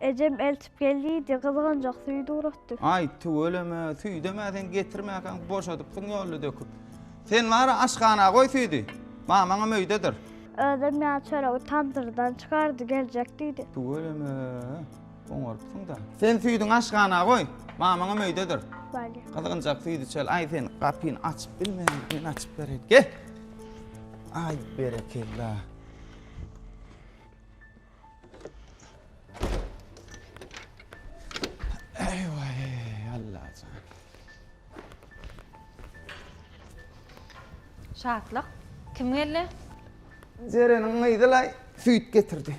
Ejem eltip gel diýdi, gyzganjak süýt ugratdy. Aý, tüweleme, süýdem-ä sen getirmäkäň, boşadypsyň ýolda döküp. Sen bar-a aşhana goý süýdi, mamaňam öýdedir. Özem ýa çöregi tamdyrdan çykardy, geljek diýdi. Tüweleme, oňarypsyň-da. Sen süýdüňi aşhana goý, mamaňam öýdedir. Bale. Gyzganjak süýt içeli. Aý, sen gapyny açyp bilmeýäň, men açyp bereýin. Gel! Aý, berekella! Şatlyk, kim geldi? Jereniň gyzy-laý süýt getirdi.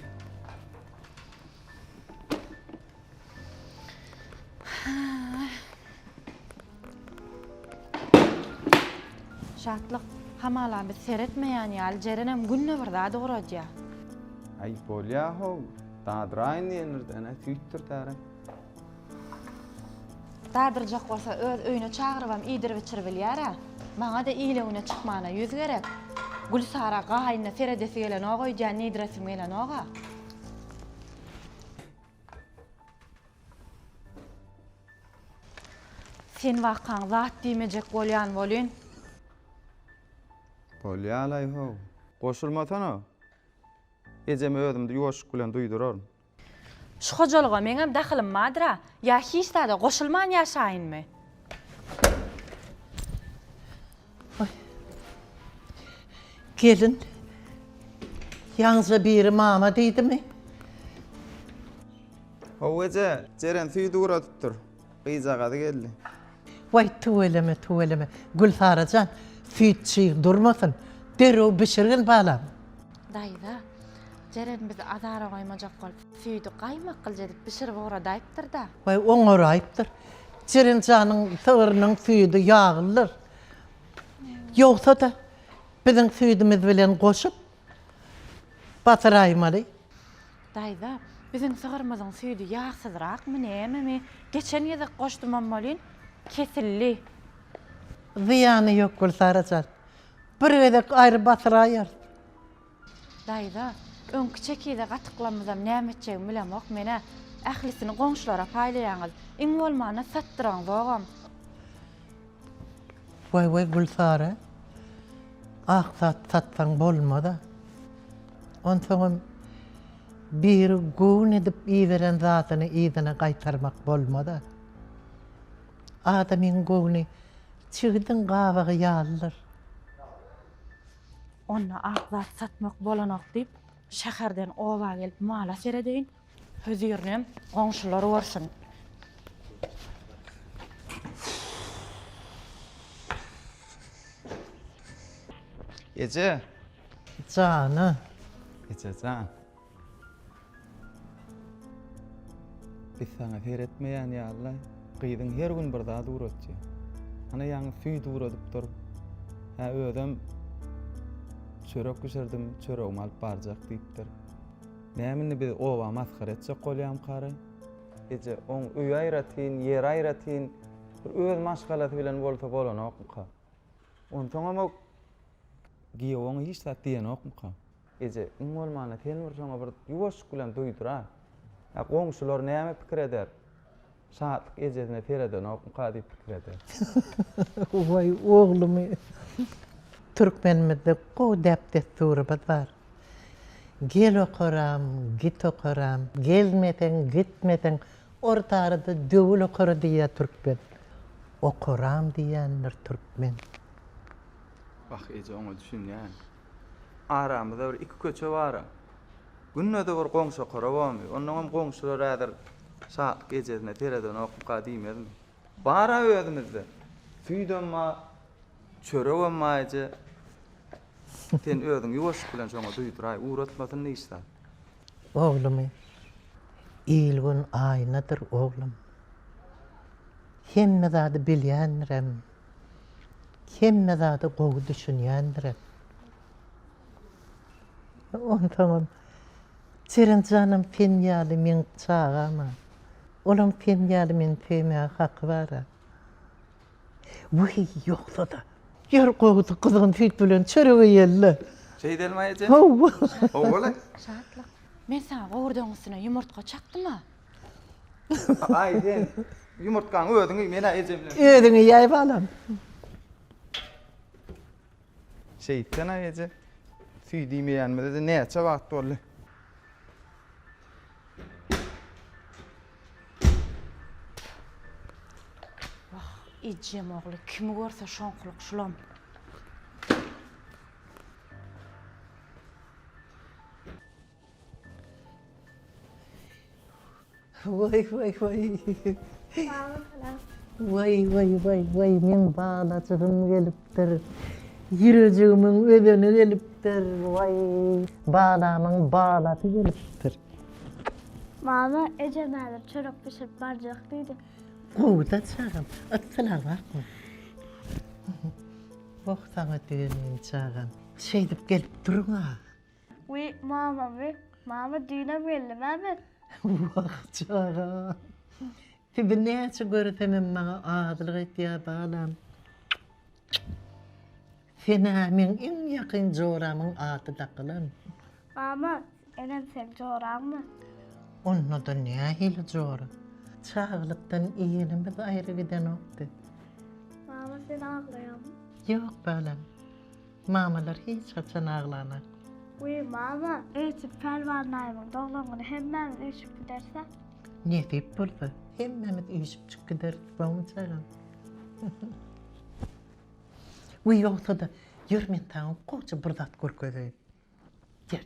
Şatlyk, hamala biz seretmeýän ýaly Jerenem günde bir zat ugradýa. Aý bolýa-how, dadyraýyn diýenirdi-ä, süýtdir täre. Dadyrjak bolsa öz öýüne çagyrybam iýdirip-içirip bilýär-ä. Maňa-da ile-güne çykmana ýüz gerek. Gülsara gaýynyna seredesi gelenok öýdýän diýdiresim gelenok-a. Sen wakaň zat diýmejek bolýan welin. Bolýalaý-how. Goşulmasana. Ejeme özümdi ýoşuk bilen duýduraryn. Şu hojalyga meňem dahylym bardyr-a. Ýa hiç zada goşulman ýaşaýynmy? Gelin, ýaňyja biri mama diýdimi? How eje, Jeren süýdi guradypdyr. Gyzjagazy geldi. Waý, tüweleme, tüweleme. Gülsara jan, süýt çyg durmasyn. Derrew bişirgin, balam. Daýza, Jeren bizi azara goýmajak bolup. Süýdi gaýmak gylja edip bişirip oňradaýypdyr-da. Baý, oňaraýypdyr. Jeren janyň sygyrynyň süýdi ýaglydyr. Ýogsa-da, biziň süýdümiz bilen goşup basyraýmaly. Daýza, biziň sygyrymyzyň süýdi ýagsyzrakmy, nämemi? Geçen gezek goşdumam welin, kesildi. Zyýany ýok, Gülsara jan. Bir gezek aýry basyraýarys. Daýza, öňki çekize gatyklamyzam näme etjegimi bilemok men-ä. Ählisini goňşulara paýlaýaňyz. Iň bolmanda satdyraňzogam. Waý-waý, Gülsary, ak zat satsaň bolmaz-a. Onsoňam biri göwün edip iberen zadyny yzyna gaýtarmak bolmaz-a. Adamyň göwni çigidiň gabagy ýalydyr. Onda ak zat satmak bolanok diýip, şäherden oba gelip mala seredeýin. Hözirinem goňşular görsün. Eje. Jana. Ejejan. Biz saňa seretmeýän ýalylaý. Gyzyň her gün bir zat ugratýa. Ana ýaňy süýt ugradyp dur. Hä özem çörek bişirdim, çöregimi alyp barjak diýipdir. Näme indi biz oba masgara etjek bolýamkary? Eje, oň öýi aýratyn, ýeri aýratyn, bir öz maşgalasy bilen bolsa bolanokmyka? Onsoňam o giýew oňa hiç zat diýenokmyka? Eje, iň bolmanda sen bir şoňa bir ýuwaşlyk bilen duýdur-a. Ýa goňşular näme pikir eder? Şatlyk ejesine seredenokmyka diýip pikir eder. Waý, oglumy! Türkmenimizde gowy däp-dessurymyz bar. Gel okaram, git okaram, gelmeseň, gitmeseň, orta arada döwül okara diýýär türkmen. Okaram diýýändir türkmen. Wah, eje, oňa düşünýän. Aramyzda bir iki köçe bar-a. Günde-de bir goňşa korobamy? Onnoňam goňşular häzir Şatlyk ejesine seredenokmyka diýmezmi? Bar-a özümizde. Süýdem bar, çöregem bar eje. Sen özüň ýuwaşlyk bilen şoňa duýduraý, ugratmasyn hiç zat. Oglumy, il-gün aýnadyr, oglum. Hemme zady bilýändirem. Hemme zada gowy düşünýändirem. Onsoňam Serenjanam sen ýaly meň çagam-a. Olam sen ýaly meni söýmäge haky bar-a. Wiý, ýogsa-da. Ýör gowusy, gyzgyn süýt bilen çörek iýeli-le. Şeýdelmi, aýeje? Hawa. Hawa-le. Şatlyk, men saňa gowurdagyň üstüne ýumurtga çakdym-a. Aý sen ýumurtgaň özüň iý, men-ä eje bilen. Özüň iýäý balam. Şeýtsen-ä eje, süýt iýmeýänimize-de näçe wagt boldy. Wah, ejem ogly kimi görse şoňkulyk şulam. Waý waý waý. Waý waý waý waý meň balajygym gelipdir. Ýürejigimin özeni gelipdir. Waý balamyň balasy gelipdir. Mama ejem häzir çörek bişirip barjak diýdi. Gowuda çagam. Ytsylag barmy? Wah saňa düýe meň çagam. Şeýdip gelip duruň-a. Wiý, mamamy, mama düýnem geldimä men. Wah, çaga. Sizi näçe göresemem maňa azylyk etýär balam. Sen-ä meň iň ýakyn joramyň ady dakylan. Mama, enem seň joraňmy? Onda-da nähili jora. Çaglykdan igenimiz aýry gidenokdy. Mama, sen aglaýaňmy? Ýok, balam. Mamalar hiç haçan aglanak. Wiý mama öýtüp Pälwan daýymyň doglan güni hemmämiz üýşüp gidersä. Nesip bolsa hemmämiz üýşüp çyk gideris bawumjagam. Wiý ýogsada ýör men saňa goja bir zat görkezeýin. Ýör.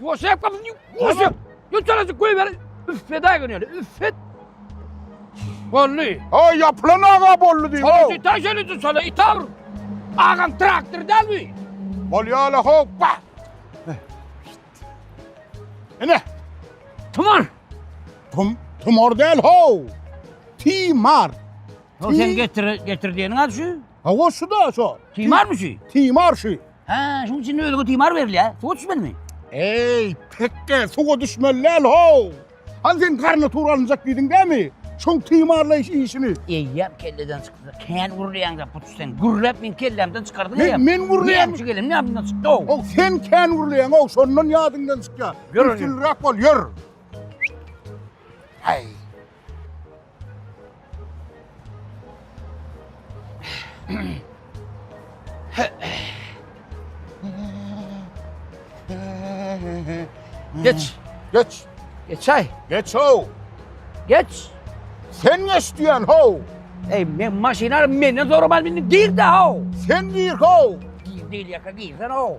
Ýoşep kapyny ýoşep. Ýoşalajy goýber. Üffet aýgyn ýöne. Üffet. Bolly. Ha ýapylan aga bolly diýip. Şonuň ita şöni dur şola ita bur. Agam traktor däl bu. Bolýala hoppa. Ene. Tumar. Tum tumar däl ho. Timar. Sen getir getir diýeniň ady şu. Ha şu da şu. Timarmy şu? Timar şu. Hä, şuň üçin özüňe timar berilýä, suwa düşmeliňmi? Eý, pekge, suwa düşmeli däl, how! Hany sen garna tur alynjak diýdiň dämi? Şoň timarlaýyş işini. Eýýäm kelleden çykdy. Kän gürleýäň-dä, puç sen. Gürläp meň kellämden çykardyň eýýäm. Men, men gürleýän. Näme üçin gelenim ýadymdan çykdy, how! How, sen kän gürleýäň, how, şondan ýadyňdan çykýa. Ýör, ýör. Üstünliräk bol, ýör. Häý. Geç. Geç. Geç ay. Geç ho. Geç. Sen geç diyen ho. Ey men maşyna menden zorabaz bindin gir de ho. Sen gir ho. Gir değil yaka girsen ho.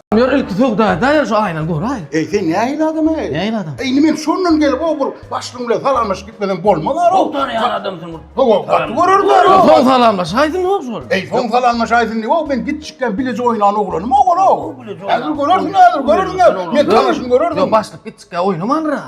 Ýör ilki söwda-da ýör şu aýna göraý. Eý sen nähili adam-eý? Nähili adam? Eý indi men şondan gelip o bir başlygyň bilen salamlaşyp gitmesem bolmaz ara. Gowy tanaýan adam sen bir. Gowy gaty görer bar. Soň salamlaşaýsyn ýok şol. Eý soň salamlaşaýsyn diýip o men gitjikden bileje oýnan oglanym o ol o. Häzir görersiň häzir görersiň. Men tanyşym görersiň. Ýok başlyk gitjikkä oýnamandyr ha.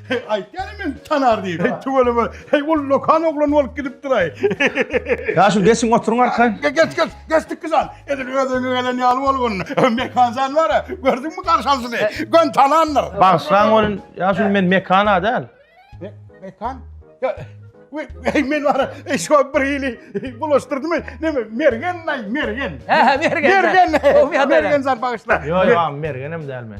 Heý, aýtýany men tanar diýip. Heý, tüweleme. Heý, ol lokan oglan bolup gidipdir-aý. Ýa şu geçiň oturyň arkaýyn. Geç, geç, geçdik biz an. Edil öz öňe gelen ýaly bolgun. Mekan jan bar-a, gördüňmi garşalyjyny? Gön tanandyr. Bagyşlaň bolun, ýa şu men Mekan-a däl. Mekan? Ýa, we, heý, men bar-a, eý, şo bir hili bulaşdyrdymy? Neme, Mergen-aý, Mergen. Hä, hä, Mergen. Mergen, Mergen jan bagyşla. Ýo, ýo, Mergenem däl men.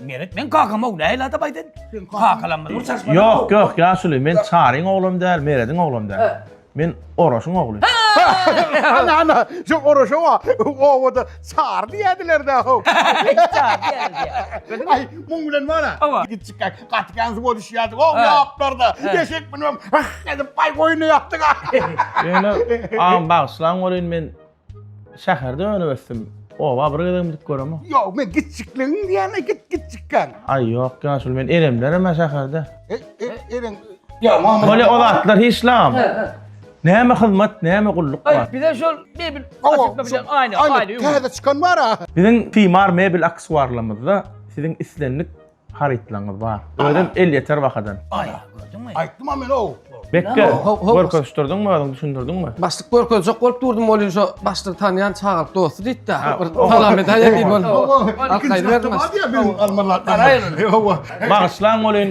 Meret men kakamow näil adam aýdyn. Kakalam bir çaşma. Yok yok yaşuly men çaryň oglum däl merediň oglum däl. Men oraşyň ogly. Ana ana şu oraşa wa owada çar diýdiler da. Çar diýdiler. Ay muň bilen bana. Git çyk kak. Gat gans bol iş ýadyk. O ýaplarda. Geçek bilen. Ah edip bay goýny ýapdyk. Ýöne am bagşylaň bolyn men Şäherde önüp ösdüm. Oba bir gezegem gidip göremok. Ýok, men gitjikligiň diýäne git gitjikkan. Aý ýok, ýaşuly men eremlerem ha şäherde. E, e, eren. Ýa, mama. Bolýa o zatlar hiç lagam. He, he. Näme hyzmat, näme gulluk Aý, bar. bize şol mebel Awa, açykda şu- bilen aýna, Aýna, aýna ýüň. täze çykan bar-a. Biziň Timar mebel aksesuarlarymyzda siziň islendik Harytlaryňyz bar. Özem elýeter bahadan. Aý, gördüňmi? Aýtdym-a men ow. Bekge, Ho- ho- ho- görkezişdirdiňmi özüň, düşündirdiňmi? Başlyk görkezjek bolup durdum, bolýa şu başlygy tanýan çagalyk dosty diýdi-de. Ha, Bir o- salam edäýe diýip Owa, onu. owa, Al, ikinji gaýdyberdim. hafta bar ya benim almalar. Garaýyň. Owa. Bagyşlaň bolýyn,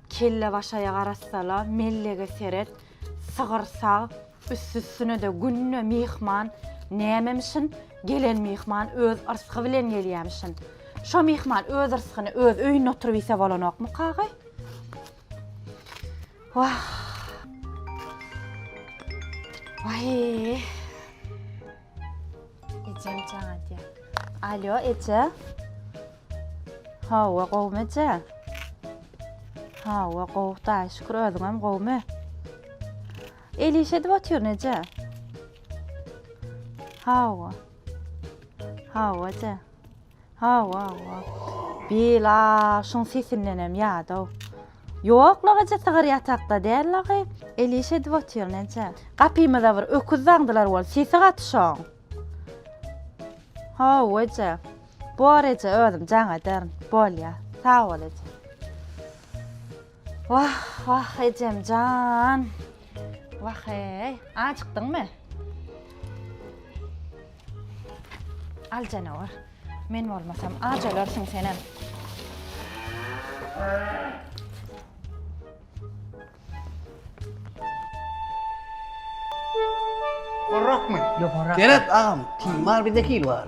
Kellebaşaýa garasala, mellege seret, sygyr sag, üstüsüne-de günde myhman, nämemişin, gelen myhman öz yrsgy bilen gelýämişin. Şo myhman öz yrsgyny öz öýünde oturyp iýse bolanokmyka-agy? Wah! Waý! Ejem çaga diýär. Alýo, eje. Hawa, gowumy eje? Hawa, gowy, daýy şükür, özüňem gowumy? El iş edip otyryn eje. Hawa. Hawa, eje. Hawa, hawa. Bil, a, şuň sesindenem ýadaw. Ýok, lagaja sygyr ýatakda däl lagy. El iş edip otyr, näçe. Gapymyza bir öküz daňdylar bol, sesi gaty şoň. Hawa, eje. Bor, eje, özüm jaň ederin. Bolýa. Sag bol, eje. Wah, wah ejem jan. Wah-eý, ajykdyňmy? Al janawar. Men bolmasam aç ölersiň senem. Gorrakmy? Ýogarak. Berat agam, tiýmar bizde hil bar.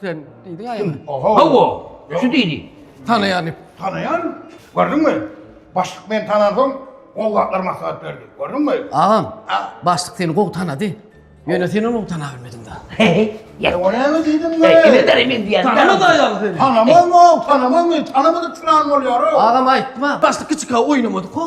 Sen diýdiň aýam. Hawa, şu diýdi. Tanaýan ip. Tanaýan, gördüňmi? Başlyk meni tanansoň, gowy zatlar maslahat berdi. Gördüňmi? Agam, başlyk seni gowy tanady. Ýöne sen ony tana bilmediň-dä. Ýa, o näme diýdiň be? Kimdir emin diýýän. Tanamaz aýaly seni. Tanamazmy o? Tanamazmy? Tanamadyk çyran bolýar o. Agam aýtma. Başlyk kiçika oýnamadyk o.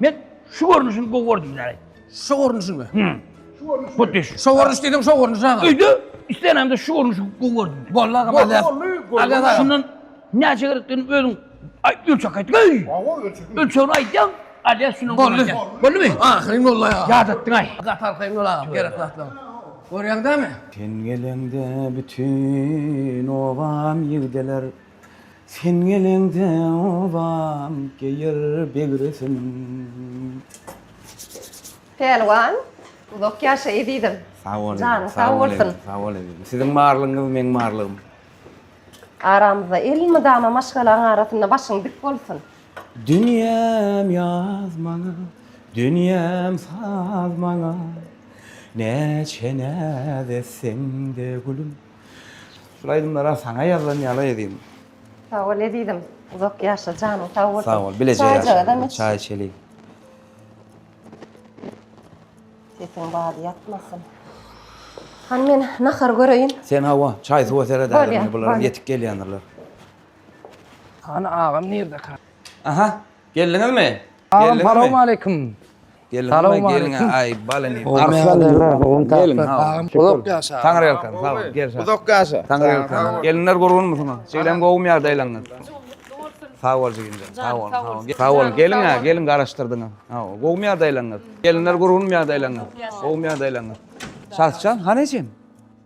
Men şu görnüşini gowy gördüm däl. Şu görnüşimi? Hı. Şu görnüş. Bu düş. Şu görnüş dedim, şu görnüş aga. Öýde islenemde şu görnüşi gowy gördüm. Bolly aga Bolly, mazar. bolly, gowy. Aga aga. Şundan näçe gerekdigini özüň ay- ölçek aýt. Öý! Awa ölçekim. Ölçegini aýtýaň, alýas şundan Bolly. gömerken. Bollymy? Ahyryn bolly aga. Ýadatdyň aý. Gat arkaýyn bol aga, gerek zatlar. Görýäň dämi? Sen geleňde bütün obam ýigdeler Sen geleňde obam geýer begresin. Pälwan uzak ýaşa ezizim. Sag bol janyň sag bolsun. Sag bol ezizim. Siziň barlygyňyz meň barlygym. Aramyzda elmydama maşgalaň arasynda başyň dik bolsun. Dünýäm ýaz maňa, dünýäm saz maňa, Näçe näz etseň-de gülüm. Şul aýdymlara saňa ýazlan ýaly edýin. Sag bol ezizim. Uzak ýaşa janyň sag bolsun. Sag bol. Bileje ýaşa. Çaý içeliň. Sesiň bady ýatmasyn. Hany men nahar göreýin. Sen hawa, çaý suwa seret ädim, bular ýetik gelýändirler. Hany agam nirde ka? Aha, geldiňizmi? Agam, salowmaleýkim. Salowmaleýkim. Uzak ýaşa. Uzak ýaşa. Gelinler gurgunmysyňyz? Siziň gowumy ýagdaýlaryňyz? Sag bol jigimjan. Sag bol. Sag bol. Geliň ha, geliň garaşdyrdyňyz. Gowumy ýagdaýlaryňyz? Gelinler gurgunmy ýagdaýlaryňyz? Gowumy ýagdaýlaryňyz? Şahjan, hany ejeň?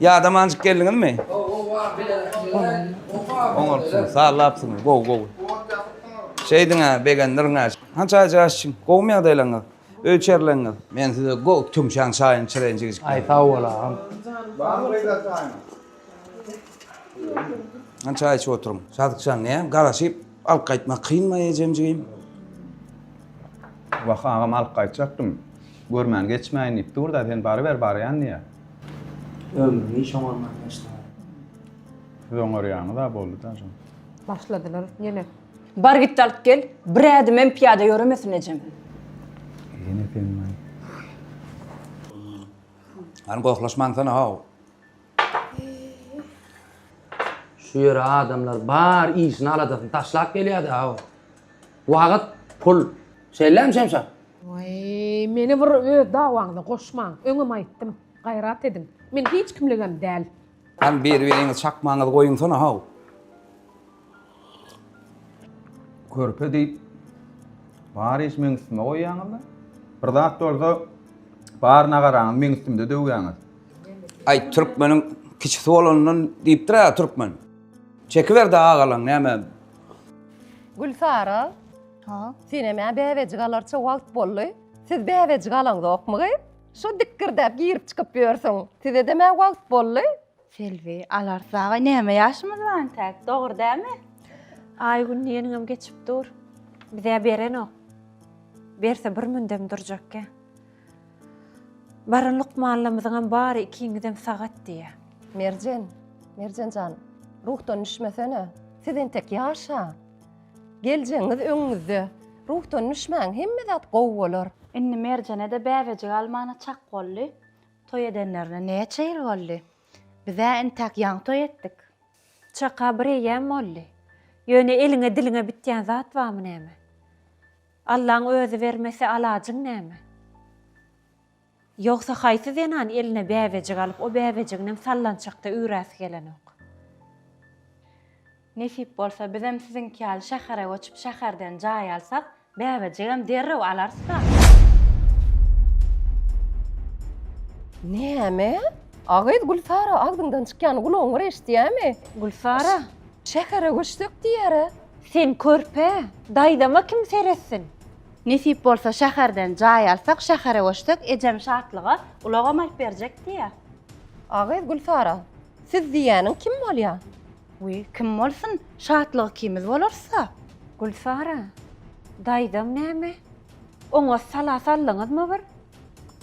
Ýadamanjyk geldiňizmi? Oňartsyňyz, sallapsyňyz, gowy, gowy. Şeýdiň-ä, begendirin-ä. Han çaý jaş içiň. Gowumy ýagdaýlaryňyz? Öý içerileriniz? Men size gowy tümşäň çaýyny içireýin, jigijikler. Aý, sag bol, agam. Barmy beýle çaýyň? Han çaý içip oturyň. Şadyk jan näme garaşyp? Alyp gaýtmak kynmy ejemjigim? Wah, agam alyp gaýtjakdym. Görmän geçmäýin diýip dur-da, sen baryber barýan diýýä. Ömrüni hiç oňarman geçdi-ä. Siz oňarýaňyz-a boldy-da jan. Başladylar ýene. Bar git-de alyp gel, bir ädimem pyýada ýöremesin ejem. Ýene sen-laý. Hany gohlaşmansana-how. Şu ýere adamlar bar işini aladasyny taşlap gelýärdi aw. Wagyt, pul. Şeýlem Şemşa? Waý, meni bir öz dawaňyza goşmaň. Öňem aýtdym, gaýrat ediň. Men hiç kimligem däl. Hany bir-biriňizi çakmaňyzy goýuňsana haw. Körpe diýip bar iş meň üstüme goýýaňyzda. Bir zat bolsa bar nagaraňyz meň üstümde döwýäňiz. Aý türkmeniň kiçisi bolanyndan diýipdir-ä türkmen. Çekiber-de agalaň näme. Gülsara. Ha. Senem ä bäbejik alarça wagt boldy. Siz bäbejik alaňzokmy gyz? Şo dikgirdäp girip-çykyp ýörsüň. Size-dem ä wagt boldy. Selbi, Alar dagy näme ýaşymyz bar entäk, dogry dälmi? Aýgün diýeniňem geçip dur. Bizä berenok. Berse bir mündem durjakkä. Baran lukmanlamyzyňam bary ikiňizem sagat diýýä. Merjen, Merjen jan, ruhdan düşmesene. Siz entek ýaşa. Geljegiňiz öňüňizde. Ruhdan düşmäň, hemme zat gowy bolar. Indi Merjene-de bäbejik almana çak boldy. Toý edenlerine näçe ýyl boldy? Biz-ä entäk ýaňy toý etdik. Çaka bir eýýäm boldy. Ýöne eliňe diliňe bitýän zat barmy näme? Allaň özi bermese alajyň näme? Ýogsa haýsy zenan eline bäbejik alyp o bäbejiginem sallançakda üýräsi gelenok? Nesip bolsa bizem siziňki ýaly şähere göçüp şäherden jaý alsak bäbejigem derrew alarysda. Näme? A gyz Gülsara agzyňdan çykýany gulagyň bir eşitýämi? Gülsara. Şähere göçsek diýýärä. Sen körpe, daýzama kim seretsin? Nesip bolsa şäherden jaý alsak şähere göçsek ejem Şatlyga ulagam alyp berjek diýýär. A gyz Gülsara. Siz diýýäniň kim bolýar? Wiý, kim bolsun, şatlygy ikimiz bolarys-a. Gülsara, daýzaň näme? Oňa sala saldyňyzmy bir?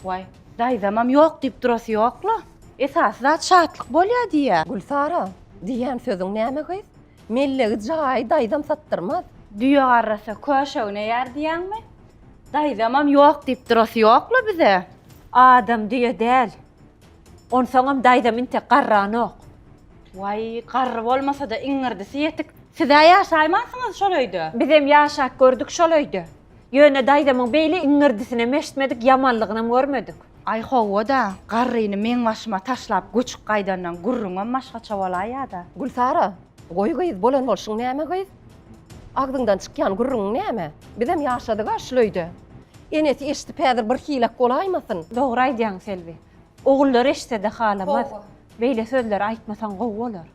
Waý, daýzamam ýok diýip durasy ýok-la. Esasy zat şatlyk bolýa diýýä. Gülsara, diýýän sözüň näme gyz? Mellegi jaýy daýzam satdyrmaz. Düýe garrasa köşe üneýär diýýäňmi? Daýzamam ýok diýip durasy ýok-la bize. Adam düýe däl. Onsoňam daýzam intek garranok. Waý, garry bolmasa-da iňňirdisi ýetik. Siz-ä ýaşaýmansyňyz şol öýde? Bizem ýaşap gördük şol öýde. Ýöne daýzamyň beýle iňňirdisinem eşitmedik, ýamanlygynam görmedik. Aý, hawa-da, garryny meň başyma taşlap göçüp gaýdandan gürrüňem başgaça bolaý ýa-da. Gülsara, goý gyz, bolan bolşuň näme gyz? Agzyňdan çykýan gürrüňiň näme? Bizem ýaşadyg-a şul öýde. Enesi eşidip häzir bir hiläk bolaýmasyn? Dogry aýdýaň, Selbi. Ogullar eşsede halamaz. Beýle sözleri aýtmasaň gowy bolar.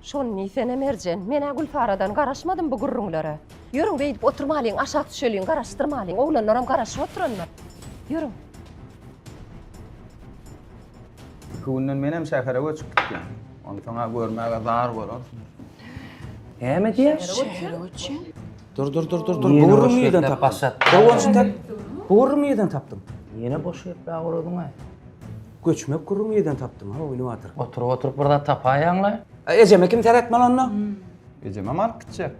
Şony diýsene Merjen. Menä Gülsaradan garaşmadym bu gürrüňlere. Ýörüň beýdip oturmalyň aşak düşeliň garaşdyrmalyň oglanlaram garaşyp oturandyr. Ýörüň. Iki günden menem şähere göçüp gitýän. Onsoňa görmäge zar bolarsyňyz. Näme diýýär? Şähere göçýän. Dur dur dur dur dur. Ýene Gowurlygyň boş ýerden geplep tapdym. başlat. Gowunçy tap. Gowurlygyň ýerden tapdym. Ýene boş geplä guradyň-aý. Göçmek gurruň ýerden tapdym. Ha oýny batyr. Oturyp oturyp bir zat tapaýaň-laý. A ejeme kim seretmeli onda? Ejemem alyp gitjek.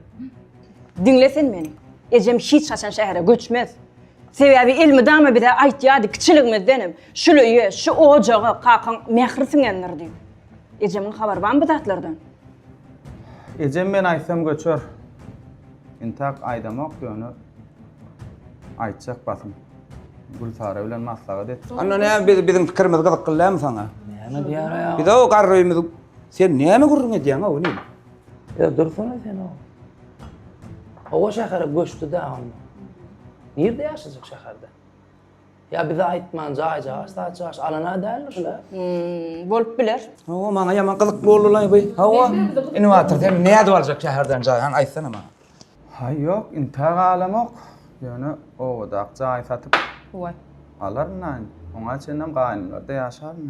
Diňle sen meni. Ejem hiç haçan şähere göçmez. Sebäbi elmydama bize aýtýardy kiçiligimizdenem, Şuly öýe, şu ojaga kakaň mähri siňendir diýip. Ejemiň habary barmy bu zatlardan? Ejem men aýtsam göçer. Intak aýdamok ýöne aýtjak basym. Gülsara bilen maslahat et. Anna ne biz biziň pikirimiz gyzykly dälmi saňa? Näme diýýär aýal? Biz o garrymy sen näme gürrüň edýäň o ne? Ýa dursana sen o. Owa şähere göçdi-de onda. Nirde ýaşajak şäherde? Ýa bize aýtman jaý jaş saç jaş alana däldir şular. Hmm, bolup biler. Hawa maňa ýaman gyzykly boldy lan bu. Hawa. Innowator sen nädip aljak şäherden jaý han aýtsana maňa. Haý ýok, intä galamok. Ýöne obadak jaý satyp Waý. alaryn aýn. Oňa çenlem gaýynymlarda ýaşaryn.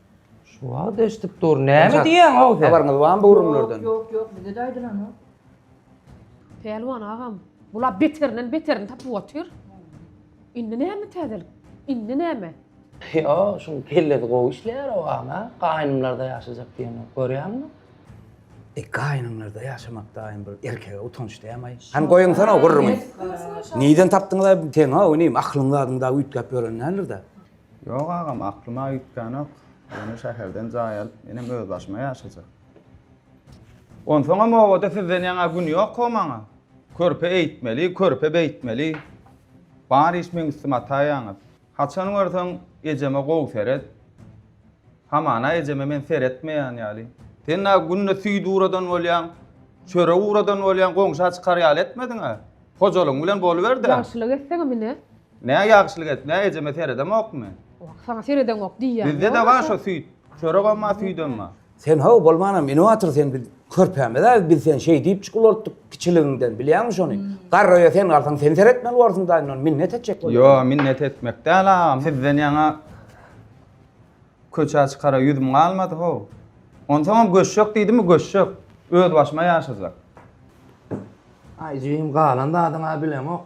Şu wagt eşidip dur. Näme diýýäň ow sen? Habaryňyz barmy bu gürrüňlerden? Ýok, ýok, bize de aýdylanok. Pälwan agam, bular beterinden beterini tapyp otyr. Indi näme täzelik? Indi näme? Ýok, şuň kellesi gowy işleýär ow ana. Gaýnymlarda ýaşajak diýenok, görýäňmi? E, gaýnymlarda ýaşamakdaýam bir erkege utanç dämi-aý? Hany goýuňsana ow gürrüňi. Nirden tapdyňyz-aý bu teňi-ow inim? Aklyň zadyň dagy üýtgäp ýören däldir-dä? Ýok agam, aklyma üýtgänok. Ýöne şäherden jaý alyp, menem özbaşyma ýaşajak. Onsoňam obada sizden ýaňa gün ýok-ow maňa. Körpe eýtmeli, körpe beýtmeli. Bar iş meň üstüme ataýaňyz. Haçan görseň, ejeme gowy seret. Hamana ejeme men seretmeýän ýaly. Sen-ä günde süýt ugradan bolýaň, çörek ugradan bolýaň, goňşa çykar ýaly etmediň-ä. Hojalygyň bilen boluber-dä. Ýagşylyk etseňem ine, Nä ýagşylyk edip, nä ejeme seredemokmy? Saňa seredeňok diýýän. Bizde-de bar şo süýt. Çöregem bar, süýdem bar. Sen how bolmanam inowator sen biz körpämiz-ä biz sen şeý diýipjik ulaltdyk kiçiligiňden bilýäňmi şony? Garraýa sen galsaň sen seretmeli borsuň daýy mundan minnet etjek bolýar. Ýo minnet etmek däl agam sizden ýaňa köçä çykara ýüzüm galmady how. Onsoňam göçjek diýdimi göçjek. Öz başyma ýaşajak. Aý jigim galan zadyňa bilemok.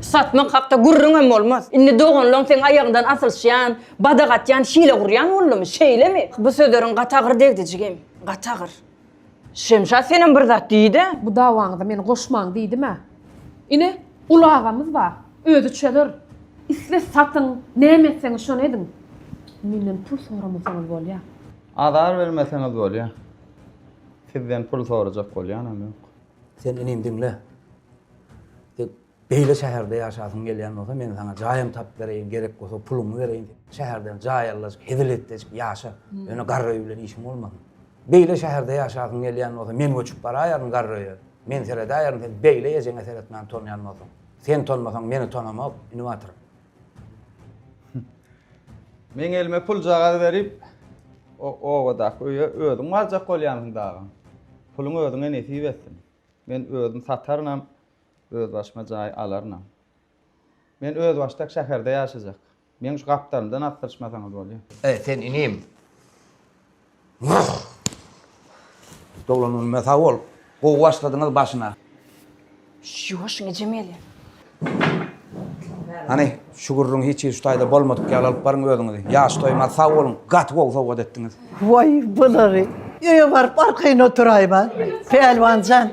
Satmak hakda gürrüňem bolmaz. Indi doganlaň seň aýagyňdan asylşýan, badak atýan, hile gurýan boldumy? Şeýlemi? Bu sözleriň gaty agyr degdi, jigim. Gaty agyr. Şemşat senem bir zat diý-de. Bu dawaňyza meni goşmaň diýdim-ä. Ine, uly agamyz bar. Özi çözer. Isle satyň, näme etseňiz şony ediň. Menden pul soramasaňyz bolýar. Azar bermeseňiz bolýar. Sizden pul sorajak bolýanam ýok. Sen inim diňle. Sen beýle şäherde ýaşasyň gelýän bolsa, men saňa jaýam tapyp bereýin, gerek bolsa puluňy bereýin. Şäherden jaý allajyk, hezil etdejik ýaşa. Ýöne garry öý bilen işiň bolmasyn. Beýle şäherde ýaşasyň gelýän bolsa, men göçüp baraýaryn garry öýe. Men seredäýerin, sen beýle ejeňe seretmän tonýan bolsaň. Sen tonmasaň, meni tonamok, inibatyr. Meň elime puljagaz berip, o obadaky öýe özüň barjak bolýansyň dagy. Puluň özüňe nesip etsin. Men özüm satarynam, özbaşyma jaý alarynam. Men özbaşdak şäherde ýaşajak. Meň şu gapdalymdan asdyryşmasaňyz bolýar. Sen inim. Wah! Doglan günüme sag bol. Gowy başladyňyz başyna. Ýuwaşyň ejem gelýär. Hany, şu gürrüňi hiç hili şu taýda bolmadyk ýaly alyp baryň özüňizi. Ýaş toýmaz, sag boluň. Gaty gowy sowgat etdiňiz. Waý, bulary. Öýe baryp arkaýyn oturaýma. Pälwan jan.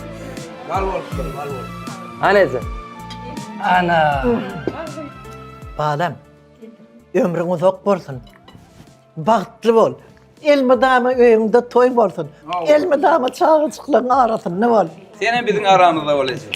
Bal bolsun, bal bolsun. Anezi. Ana. Balam. Ömrüň uzak bolsun. Bagtly bol. Elmydama öýüňde toý bolsun. Elmydama çagajyklaryň arasynda bol. Sen hem biziň aramyzda bolaýjak.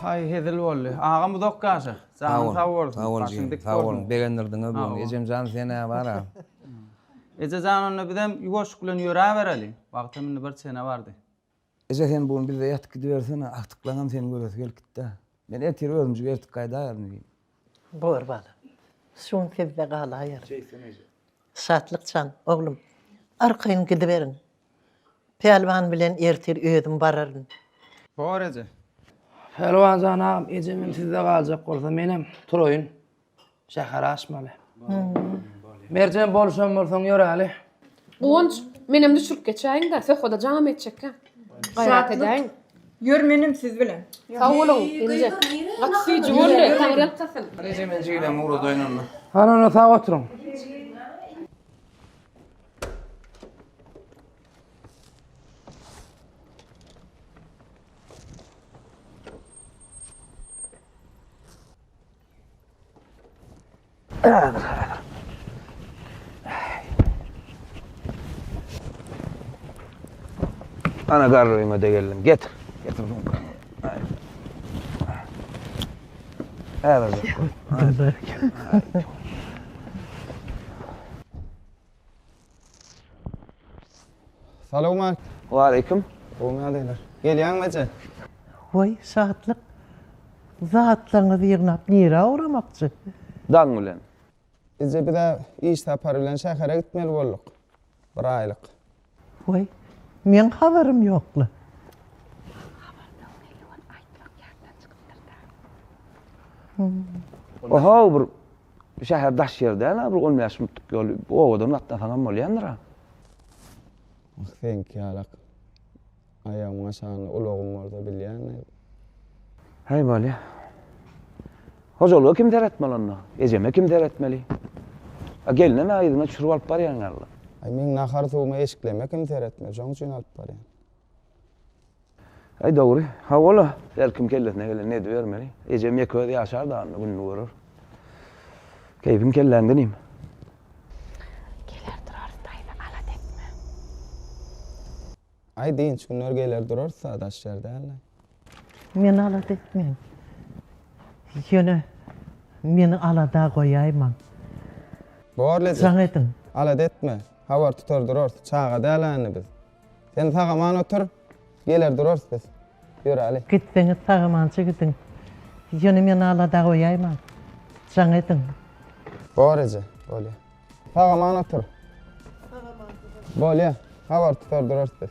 Haý hezil boldy. Agam uzak ýaşa. Janyň sag bolsun. Sag bol jigim. Sag bol. Begendirdiňä bugün. Ejemjan senä bara. Ejejan onda bizem ýuwaşyk bilen ýöräbereli. Wagtam indi bir çene bardy. Eje sen bu gün bizde ýatyp gidibersene, agtyklaňam seni göresi gelip gitdä. Men ertir özümjik ertip gaýdaýaryn diýdim. Bor bala. Şu gün sizde galaýaryn. Şeýtsin eje. Şatlyk jan, oglum, arkaýyn gidiberiň. Pälwan bilen ertir özüm bararyn. Bor eje. Pälwan jan agam, ejemem sizde galjak bolsa, menem turaýyn. Şäher aşmaly. Merjen bolşam bolsaň ýöräli. Guwanç, menem düşürip geçäýiň-de, söhbede jam etjekkä. Gaýrat edäýiň. Ýör menem siz bilen. Sag boluň, inje. Gaty süýji boldy, taňryýalkasyn. Reje men jigilem ugradaýyn onda. Hany onda sag oturyň. Ana garryňa da geldim. Getir. Getir bunu. Häzir. Häzir. Salowmat. Waleýkim. Gowy näleýler. Gelýäňmi eje? Waý, şatlyk. Zatlaryňyzy ýygnap nirä ugramakçy? Daň bilen. Eje biz-ä iş sapary bilen şähere gitmeli bolduk. Bir aýlyk. Waý, meň habarym ýok-la. Oho, bir Şäher daş ýer däl-ä, bir on bäş minutlyk ýol. Obadan gatnasaňam bolýandyr-a. Ah, seňki ýalak aýagyň aşagynda ulagyň bolsa bilýäň-ä. Häý, bolýa. Hojalyga kim seretmeli onda? Ejeme kim seretmeli? A gelinem-ä yzyna çürüp alyp barýan ýaly. Meň nahar-suwumy eşikleme kim seretmeli? Şoň üçin alyp barýan. Aý dogry. Hawa-la, her kim kellesine gelenini edibermeli. Ejem ýeke özi ýaşar dagynda gününi görer. Keýpiň kelläňde inim. Geler durarys daýza, alat etme. Aý dynç günler geler durarys-a, daş ýer däl-le. Men alat etmen. Ýöne meni alada goýaýmaň. Borly edi. Jaň ediň. Alat etme. Habar tutar durarys. Çaga däl-ä indi biz. Sen sag-aman otur, geler durarys biz. Ýöräli. Gitseňiz sag-amança gidiň. Ýöne meni alada goýaýmaň. Jaň ediň. Bor eje, bolýar. Sag-aman otur. Bolýar, habar tutar durarys biz.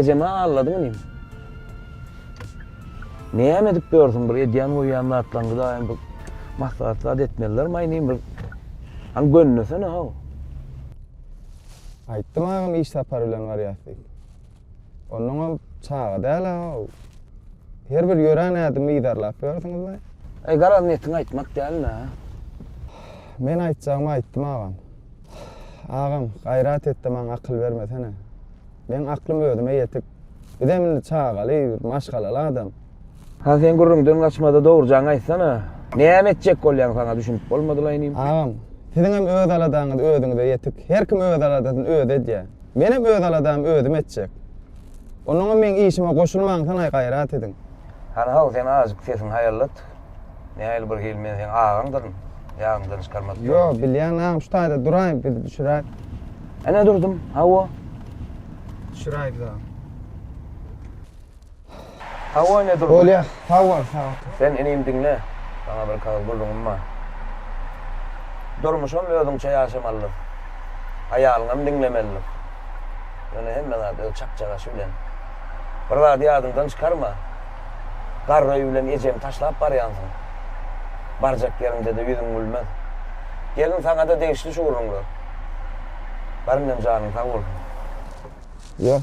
Ejeme alladyň inim. Näme edip ýörsüň bir edýän goýýan zatlaňňy daýym bir maslahat zat etmeliler maý inim bir. Haň gönnesene haw. Aýtdym agam iş sapary bilen barýas diýip. Onnoňam çaga däl-ä ol. Her bir ýörän ädimi yzarlap ýörsiňizmi? Eý, garaz netiň aýtmak dälmi-ä? Men aýtjagymy aýtdym agam. Agam, gaýrat et-de maňa akyl bermesene. Meň aklym özüme ýetik. Bizem indi çagaly, bir maşgalaly adam. Ha sen gürrüňden gaçmada dogrujaňy aýtsana. Näme etjek bolýaň saňa düşünip bolmadylaý inim. Agam, siziňem öz aladaňyz özüňize ýetik. Her kim öz aladasyny özi edýär. Menem öz aladamy özüm etjek. Onuňam meň işime goşulmaňsanaý gaýrat ediň. Hany haw sen azjyk sesiňi haýallat. Nähili bir hil men seň agaňdyryn. Ýadymdan çykarmadyk ýol. Ýok bilýän agam şu taýda duraý biz düşüräýik. Ene durdum, hawa. Düşüräý biz agam. Sag bol Nedir. Bolýa, sag bol, sag bol. Sen inim diňle, saňa bir kagyz gulluňym bar. Durmuşam özüňçe ýaşamalydyr. Aýalyňam diňlemelidir. Ýöne hemme zat öz çakjagaşy bilen. Bir zady ýadyňdan çykarma. Garry bilen ejemi taşlap barýansyň. Barjak ýeriňde-de ýüzüň gülmez. Gelin saňa-da degişli şu gürrüňler. Garynjan janyň sag bolsun. Ýör.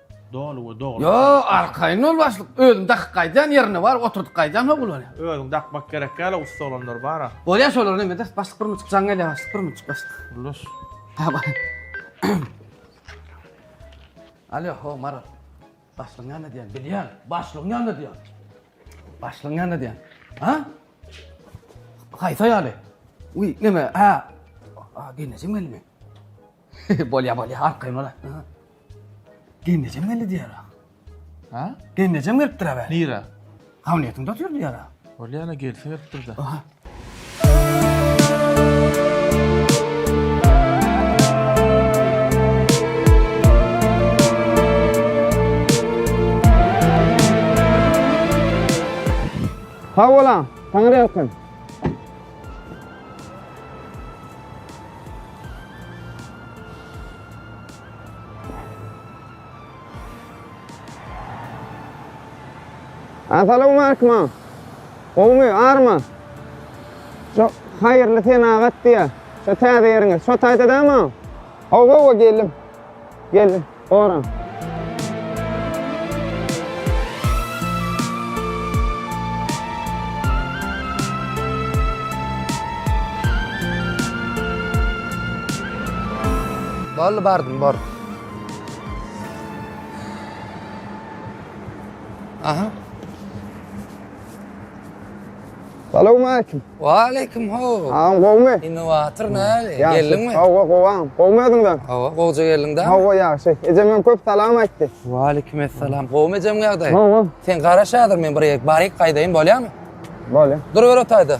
Doly we dogry. Yo, arkaýyn ol başlyk. Özüň dakyp gaýdýan ýerinde bar, oturdyp gaýdýan hok bolýa. Özüň dakmak gerek däl-a, ussa olanlar bar-a. Bolýa şolar neme eder. Başlyk bir münçik jaň gelýä başlyk, bir münçik başlyk. Ullaş. Ha bar. Alýo, ho Maral. Başlygyň ýanynda diýen, bilýän. Başlygyň ýanynda diýen. Başlygyň ýanynda diýen. Ha? Haýsy ýaly? Uý, neme, ha. Ha, gelnejem gelme. Bolýa bolýa arkaýyn bola. Gelnejem geldi diýer. Ha? Gelnejem gelipdir abi. Nira. Hamniýetiňde otyr diýer. Bolýa ana gelsin gelipdir de. Aha. Sag bolan. Taňry ýalkasyn. Assalamu aleykum. Gowmy, army? Şu haýyrly senagat diýä. Şu täze ýeriňiz. Şu taýda dämi? Hawa, hawa, geldim. Geldim. Oran. Boldy bardym bor. Aha. Salowmaleýkim. Waleýkim ho. Agam gowmy? Innowator näli? Geldiňmi? Hawa, gowam. Gowmy özüňden? Hawa, gowja geldiň dämi? Hawa, ýagşy. Ejem hem köp salam aýtdy. Waleýkim essalam. Gowmy ejem ýagdaý? Gowy. Sen garaş häzir men bir ýer baryk gaýdaýyn bolýamy? Bolýa. Dur bir otaýda.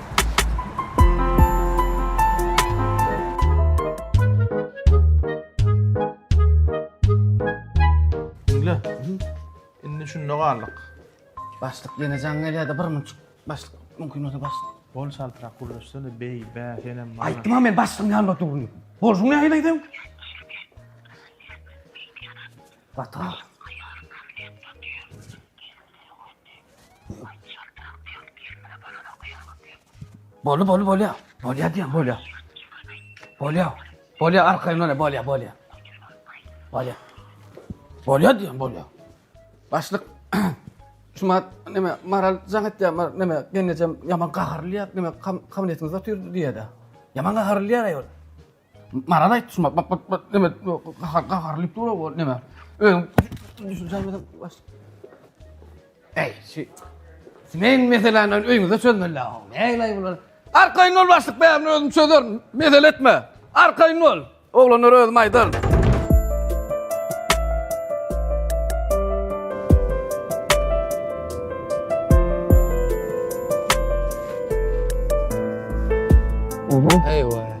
Diňle. Indi şunda galdyk. Başlyk ýene jaň gelýärdi bir münçik. Başlyk mümkin bolsa başlyk. Bol çaltrak gürleşsene beý, bä, senem bana. Aýtdym-a men başlygyň ýanynda durun. Bolşuň nähili aýdaýyn? Bata. Boldy boldy bolýa. Bolýa diýen bolýa. Bolýa. Bolýa arkaýyn bolýa bolýa bolýa. Bolýa. Bolýa diýen bolýa. Başlyk Şuma neme maral jaň etýär mar neme gelnejem ýaman gaharly ýap neme kabinetimiz otyr diýýär. Ýaman gaharly ýar aýol. Maral aýtdy şumat, bak bak bak neme gahar gahar lip dur o neme. Öň düşünjäňiz baş. Ey, şu Simen meseleni öýüňizde çözmeli ha. Näleýin bular? Arkaýyn ol başlyk bärini özüm çözerin. Mesele etme. Arkaýyn ol. Oglanlar özüm aýdaryn. Eýwa.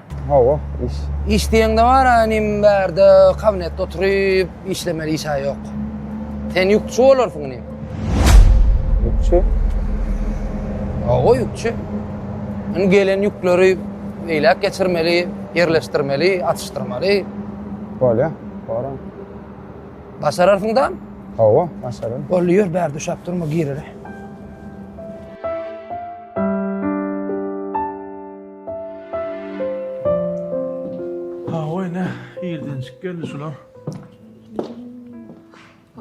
Hawa, iş. Iş diýeňde bar-a inim bärde kabinetde oturyp işlemeli iş-ä ýok. Sen ýükçi bolarsyň inim. Ýükçi? Hawa, ýükçi. Indi gelen ýükleri beýläk geçirmeli, ýerleşdirmeli, atyşdyrmaly. Bolýa, boraň. Başararsyň da? Hawa, başararyn. Boldy, ýör, bärde uşap durma, gireli. Hawa ene, irdençik geldi şular.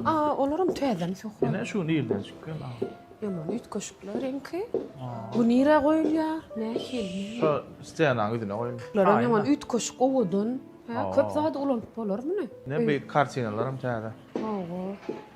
Aa, olaram täzeden sokup. Ene şu irdençik geldi. Ýaman üýtgeşikler reňki. Bu nirä goýulýar? Nähili? Şu stenaň ýüzüne goýuň. Bular ýaman üýtgeşik owadan. Köp zady ulanyp bolar muny. Ne bir kartinalaram täze. Hawa.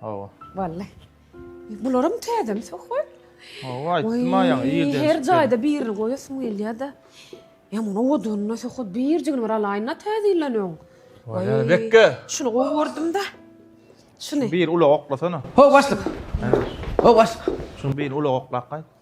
Hawa. Wallay. Bularam täzemi söhbet? Hawa, aýtdym aýaň ýerden. Her jaýda birini goýasyň gelýär-de. Ýa muny owadyna söhbet birjigini bir alaýyn-da täzeleneň. Waýa, bekge. Şuny gowy gördüm-de. Şuny. Bir ulag oklasana. Ho, başlyk. Ho, başlyk. Şuny bir ulag oklap gaýt.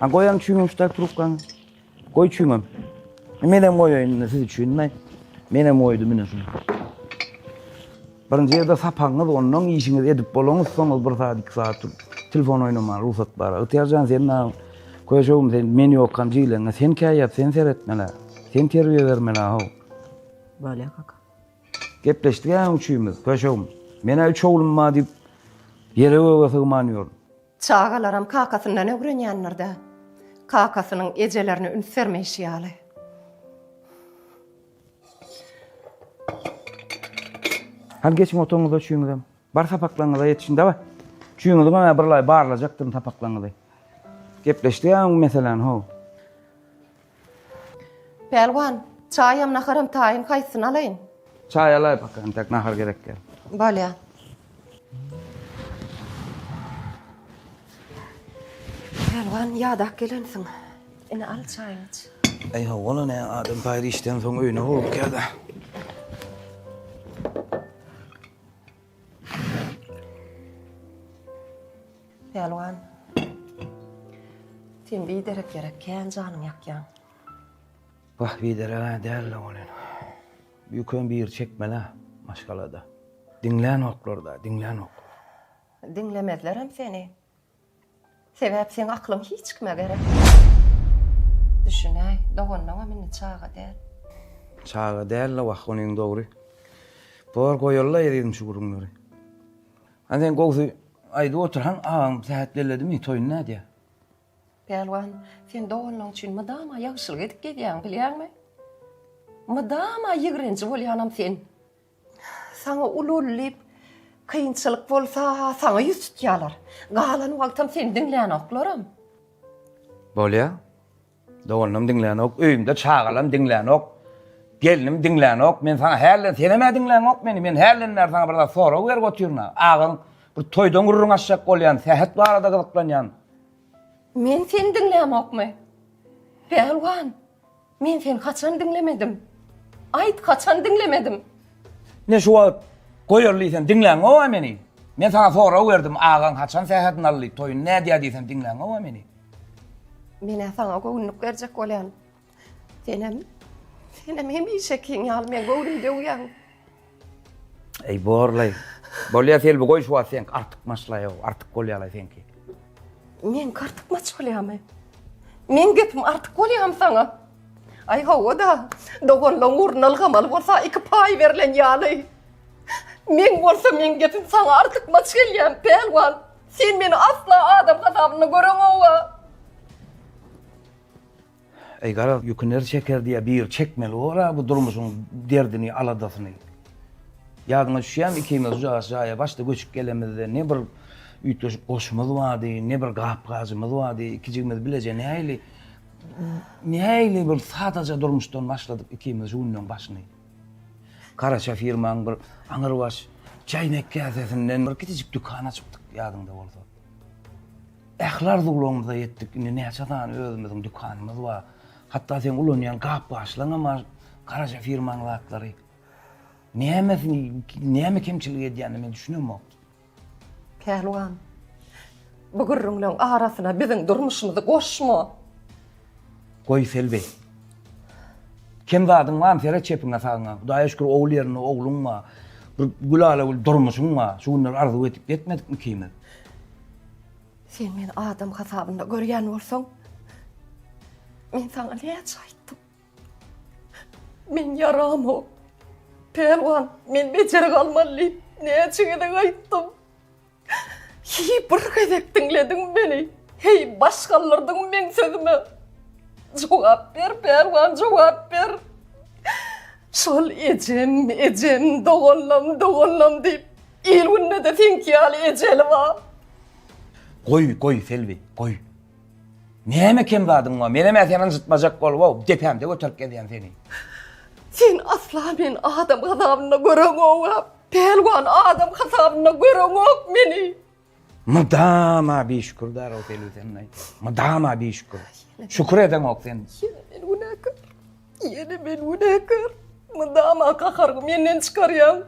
Ha goýaň çüýňüň şutak trubkaňy. Goý çüýňem. Menem goýaýyn siz üçin men. Menem goýdum ine şunu. Birinji ýerde sapagyňyz, ondan işiňiz edip bolaňyz, soňuz bir saat, iki saat turup telefon oýnamaga rugsat bar. Ygtyýarjan sen näme? Köşegim sen men ýokam jiýleňe. Sen käýýat, sen seretmeli. Sen terbiýe bermeli how. Bolýa kaka. Gepleşdik-ä üçimiz, köşegim. Men-ä üç oglum bar diýip, ýere göge sygman ýörün. Çagalaram kakasyndan ögrenýändir-dä. Kakasynyň ejelerine üns bermeýşi ýaly. Hany geçiň otagyňyza üçiňizem. Bar sapaklaryňyza ýetişiň dawa. Üçiňizem hä birlaý barlajakdyryn sapaklaryňyzy. Gepleşdi-ä öň meseläni ho. Pälwan, çaýam, naharam taýyn haýsysyny alaýyn? Çaý alaý baka, entek nahar gerek däl. Bolýa. Pälwan, ýadap gelensiň. Ine al çaýyňy iç. Eý hawa-la ne, adam paýry işden soň öýüne howlukýar-da. Pälwan. Sen biderek ýere kän janyň ýakýaň. Wah bidereg-ä däl-le welin. Ýüküň biri çekmel-ä maşgalada. Diňlänoklar-da, diňlänoklar. Diňlemezlerem seni. Sebäp seň aklyň hiç kime gerek däl. Düşünäý, doganyňam indi çaga däl. Çaga däl-le wah, onyň dogry. Bor goýaly-la ezizim şu gürrüňleri. Hany sen gowsy aýdyp otur haň agaň sähet belledimi toýuny nädýä. Pälwan sen doganlaň üçin mydama ýagşylyk edip gezýäň bilýäňmi? Mydama ýigrenji bolýanam sen. Saňa ululy diýip kynçylyk bolsa saňa ýüz tutýalar. Galan wagtam seni diňlänoklarm. Bolýa. Doganam diňlänok, öýümde çagalam diňlänok, gelnim diňlänok, men saňa hälden senem-ä diňlänok meni, men hälden bäri saňa bir zat sorag berip otyryn-a, agaň bir toýdan gürrüň açjak bolýan, sähet barada gyzyklanýan. Men seni diňlämokmy? Pälwan, men seni haçan diňlemedim? Aýt, haçan diňlemedim? Ne şu wagt goýaly diýsem diňlänok-a meni? Men saňa sorag berdim, agaň haçan sähedini aldy, toýuny nädýär diýsem diňlänok-a meni? Men-ä saňa göwünlik berjek bolýan. Senem, senem hemişekiň ýaly meň göwnümi döwýäň. Eý, borlaý. Bolýa, Selbi, goý şu wagt seňki artykmaçlaýow, artyk bolýa-laý seňki. Meňki artykmaç bolýamy? Meň gepim artyk bolýamy saňa? Aý, hawa-da, doganlaň ugruna ylgamaly bolsa iki paý berlen ýaly. Meň bolsa meň gepim saňa artykmaç gelýämi, pälwan? Sen meni asla adam hasabynda göreňog-a. Eý, garaz, ýüki ner çeker diýýä, biri çekmeli bor-a bu durmuşyň derdini, aladasyny. Ýadyňa düşýämi, ikimiz ujagas jaýa başda göçüp gelemizde, ne bir üýtgeşik goşumyz bardy, ne bir gap-gajymyz bardy, iki jigimiz bileje nähili, nähili bir sadaja durmuşdan başladyk ikimiz şu günleň başyny. Garaşa firmaň bir aňyrbaş çaýnak käsesinden bir kiçijik dükan açypdyk, ýadyňda bolsa. Ähli arzuwlarymyza ýetdik, indi näçe sany özümiziň dükanymyz bar. Hatda seň ulanýan gap-gaçlaryňam bar, garaşa firmaň zatlary. Nämesi, näme kemçilik edýänini men düşünemok. Pälwan, bu gürrüňleň arasyna biziň durmuşymyzy goşma! Goý, Selbi. Kem zadyň barmy? Seret çepiňe-sagyňa. Hudaýa şükür, ogul ýerinde ogluň bar. Bir gülala-gül durmuşyň bar. Şu günler arzuw edip ýetmedikmi ikimiz? Sen meni adam hasabynda görýän bolsaň, men saňa näçe aýtdym? Men ýaramok. Pälwan, men bejeri galmaly diýip, näçe gezek aýtdym. Heý, bir gezek diňlediňmi meni? Heý, baş galdyrdyňmy meň sözüme? Jogap ber, pälwan, jogap ber! Şol ejem, ejem, doganlam, doganlam diýip, il-günde-de seňki ýaly ejeli bar. Goý, goý, Selbi, goý. Näme kem zadyň bar? Menem-ä seni ynjytmajak bolup-ow, depämde göterip gezýän seni. Sen asla meni adam hasabynda göreňok-a, pälwan, adam hasabynda göreňok meni. Mydama bişükürdar-ow Pelüsen-aý, mydama bişükür. Şükür edeňok sen. Ýene meni günäkär. Ýene men günäkär. Mydama gaharyňy menden çykarýaň.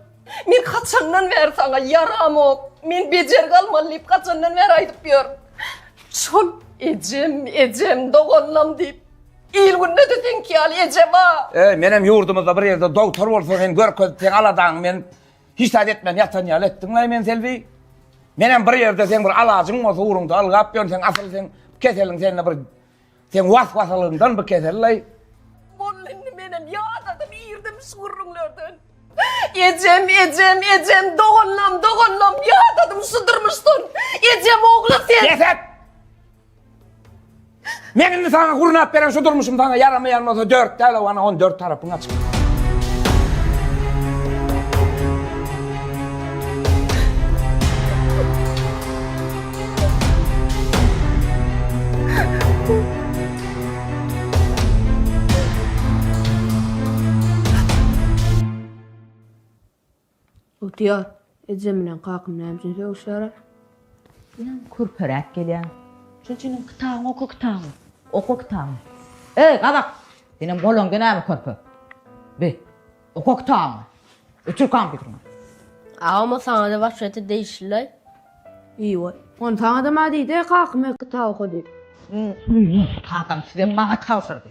Men haçandan bäri saňa ýaramok, men bejergi almaly diýip haçandan bäri aýdyp ýörün. Şol ejem, ejem, doganlam diýip, il-günde-de seňki ýaly eje bar. Eý, menem ýurdumyzda bir ýerde dogtor bolsa sen görkezip, seň aladaňy men hiç zat etmän ýatan ýaly etdiň-laý meni, Selbi. Menem bir ýerde seň bir alajyň bolsa ugruňda ylgap ýörün, seň asyl seň keseliň sende bir Sen was-wasalygyndan bu kesel laý. Boldy indi menem ýadadym irdim şu gürrüňlerden. Ejem, ejem, ejem, doganlam, doganlam, ýadadym şu durmuşdan. Ejem ogly sen. Bes et! Men indi saňa gurnap beren şu durmuşym saňa ýaramaýan bolsa dört däl-ow ana on dört tarapyň açyk. Otyar. Ejem bilen kakam näme üçin sögüşýärler? Ýa kürperäp gelýär. Şol üçinem kitabyňy oka kitabyňy. Oka kitabyňy. Eý gazak! Senem golaňda näme körpe? Bi. Oka kitabyňy. Öçür kompýuteriňi. Agam o saňada waşgata degişlilaý. Ýy boý. Ony saňadam a diýdi, kakam öýk kitap oka diýip. Ýy, kakam sizem maňa tabşyrdy.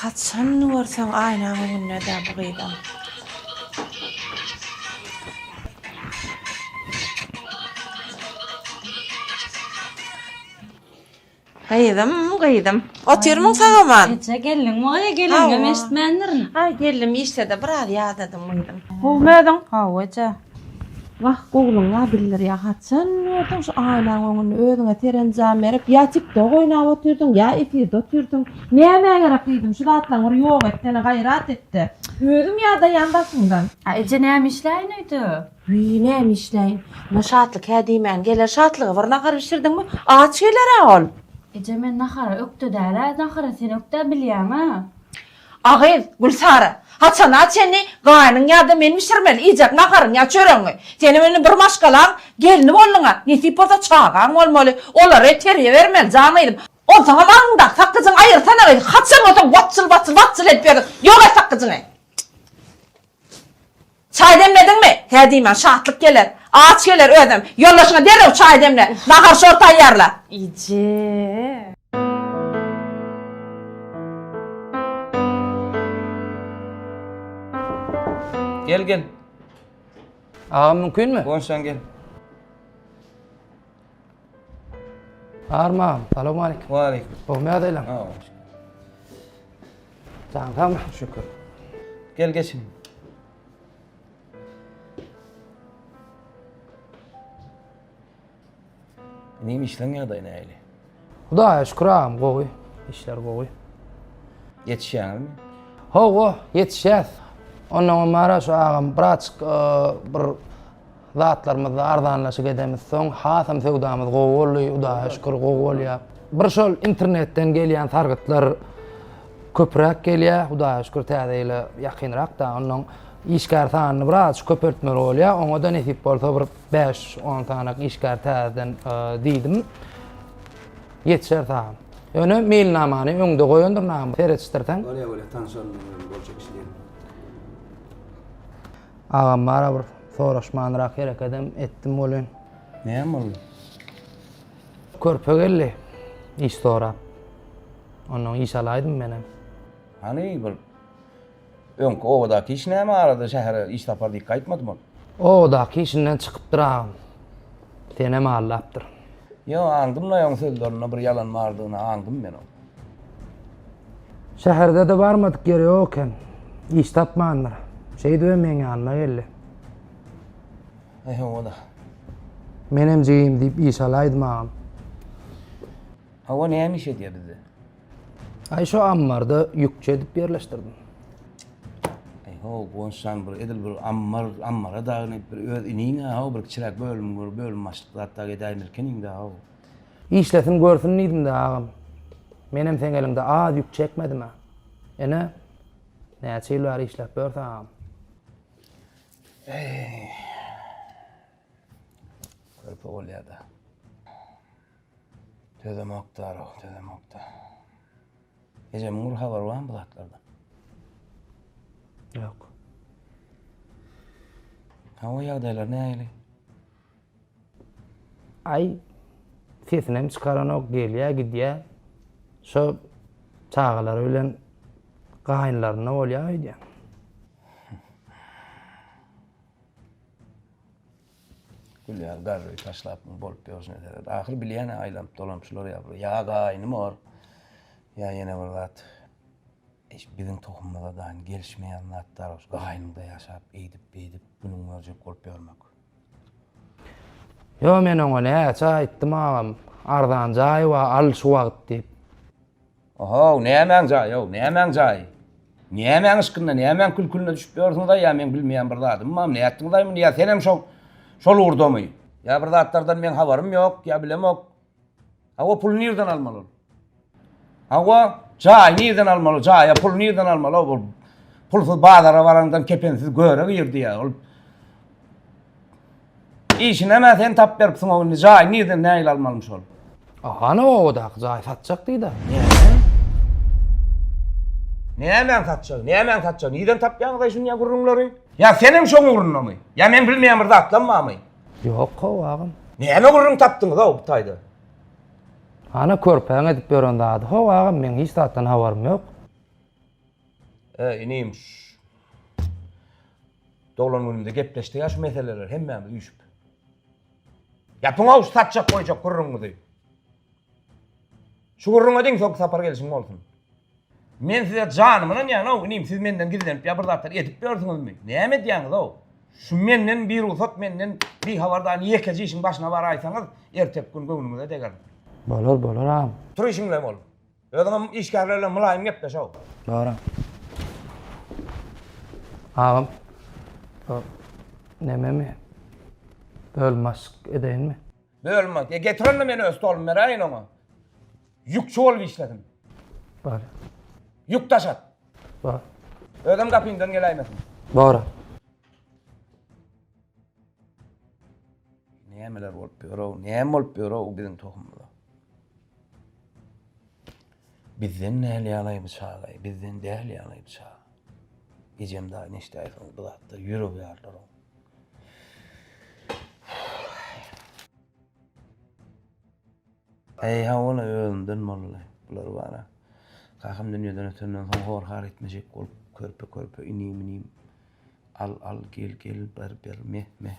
Haçan görseň aýnaň öňündedä bu gyzam. Gyzym gyzym. Otyrmyň sagaman. Eje geldiňmi gyz gelingem eşitmändirin. Aý geldim işdede biraz ýadadym gyzym. Gowmy özüň. Gowy eje. Wah gowluňa bildirýä haçan gördüň şu aýnaň öňünde özüňe serenjam berip ýa tiktok oýnap otyrdyň ýa efirde otyrdyň nämä gerek gyzym şu zatlaň bir ýok etsene gaýrat etde özüm ýadaýan daşyňdan. A eje näme işläýin öýde. Wiý näme işläýin. Muňa Şatlyk hä diýmän geler Şatlyga bir nahar bişirdiňmi aç gelerä ol. Eje men nahara ökde dälä nahara sen ökdä bilýäňä. A gyz, Gülsara, haçana çenli gaýnyň ýa-da men bişirmeli iýjek naharyňy ýa çöregiňi? Senem indi bir maşgalaň gelni bolduň-a, nesip bolsa çagaň bolmaly, olary terbiýe bermeli, jan gyzym. Onsoňam aňyňdaky sakgyjyňy aýyrsana gyz, haçan bolsa watjyl-watjyl-watjyl edip ýördüň, ýok et sakgyjyňy! Çaý demlediňmi? Hä diýmän, şatlyk geler. Aç geler özem. Ýoldaşyňa derrew çaý demle. Nahar-şor taýýarla. Eje! Gel, gel. Agam mümkinmi? Gonşaň gel. Arman, salowmalikim. Waleýkim. Gowmy ýagdaýlaň? Sag bol. Jaň sagmy? Şükür. Gel geçin. Inim işleň ýagdaýy nähili? Hudaýa şükür agam, gowy. Işler gowy. Ýetişýäňizmi? Hawa, ýetişýäs. Ondan öň mara şu agam braçk bir Zatlarymyzda arzanlaşyk edemiz soň hasam söwdamyz gowy boldy hudaýa şükür gowy bolýa. Bir şol internetden gelýän sargytlar köpräk gelýä hudaýa şükür täze ýyla ýakynrak da onnoň işgär sanyny biraz köpeltmeli bolýa oňa da nesip bolsa bir bäş on sanak işgär täzeden diýdim ýetişer saga. Ýöne meýilnamany öňde goýandyr name seretişdirseň. Bolýa bolýa tanşalyň boljak iş däl. Agam bara bir soraşmanrak herekedem etdim welin. Näme boldy? Körpe geldi iş sorap. Ondan iş alaýdym menem. Hany bir öňki obadaky iş näme arada şähere iş tapar diýip gaýtmadymy ol? Obadaky işinden çykypdyr agam. Senem aldapdyr. Ýok, aňdym Noýagyň sözlerinde bir ýalan bardygyny aňdym men oň. Şäherde-de barmadyk ýeri ýok eken. Iş tapmandyr. Şeýdibem meň ýanyma geldi. Eý hawa-da. Menem jigim diýip iş alaýdym agam. Hawa, näme iş edýär bizde? Ay şu ammarda yükçe edip yerleştirdim. Ay ho Gonşan bir edil bir ammar ammara dagyn edip bir öz inine ho bir kiçirak bölüm bir bölüm başlyk zat da edäýmelken indi ho. İşlesin görsün diýdim de agam. Menem seň eliňde az yük çekmedim a. Ene näçe ýyl bäri işläp bör saňam. Körpe bolýa da. Töze Moktarow, Töze Moktar. Ejemiň bir habary barmy bu zatlardan? Ýok. Hawa ýagdaýlar nähili? Aý sesinem çykaranok, gelýä, gidýä. Şo çagalary bilen gaýynlarynda bolýa öýdýä. Gülýär, garry taşlap muny bolup ýörüş ne seret. Ahyr bilýän-ä aýlanyp dolanyp şular ýa bir ýa gaýnym bor, ýa ýene bir zat. Eş, biziň tohumymyza daýyn gelişmeýän zatlar ol. Gaýnymda ýaşap, eýdip-beýdip günüňi görjek bolup ýörmek. Ýo, men oňa näçe aýtdym agam, arzan jaý bar, al şu wagt diýip. Ohow, nämäň jaýy-ow, nämäň jaýy? Nämäň yşkynda, nämäň kül-külüne düşüp ýörsiňiz-aý, ýa meň bilmeýän bir zadymam, nätdiňiz-aý muny, ýa senem şo, şol ugurdamy? Ýa bir zatlardan meň habarym ýok, ýa bilemok. Hawa, puly nirden almaly ol? Hawa, jaýy nirden almaly, jaýa puly nirden almaly-ow, ol pulsyz bazara baraňdan kepensiz göre girdi-ýa, ol Işinemä sen tap beripsiň o indi jaýy nirden nägile almalymy şol. A hany obadaky jaýy satjak diý da. Näme? Nämäň satjagy, nämäň satjagy, nirden tapýaňyzaý şu ýa gürrüňleri? Ýa senem şoň ugrundamy? Ýa meň bilmeýän bir zatlam barmy? Ýok how agam. Näme gürrüň tapdyňyz-ow bu taýda? Hany körpäň edip ýören zady how agam meň hiç zatdan habarym ýok. He, inim, şu doglan günümde gepleşdik ýa şu meseleleri hemmämiz üýşüp. Ýapyň-ow şu satjak-goýjak gürrüňiňizi. Şu gürrüňe deň soňky sapar gelşiň bolsun. Men size janymy ynanýan-ow, inim, siz menden gizlenip ýa bir zatlar edip ýörsüňizmi? Näme edýäňiz-ow? Şu menden birugsat, menden bihabardan ýekeje işiň başyna baraýsaňyz, erteki gün göwnüňize degerin. Bolar, bolar agam. Tur işiňle bol. Özüňem işgärler bilen mylaýym gepleş how. Dogry. Agam. Şo nememi bölüm başlyk edeýinmi? Bölüm baş. E getir onda men öz stolumy beräýin oňa. Ýükçi bolup işlesin. Bar. Ýük daşat. Bar. Özem gapyňdan geläýmesin. Dogry. Nämeler bolup ýör how, näme bolup ýör how biziň tohumyza. Bizden däl ýalaý bu çagaý, bizden däl ýalaý bu çag. Ejem daýy neşdäýsiňiz bu zatda ýürek ýarlaryň. Eý hawala özümden bolly bular bara. Kakam dünýeden ötenden soň horhar etmejek bolup körpe körpe inim minim al al gel gel ber ber meh meh.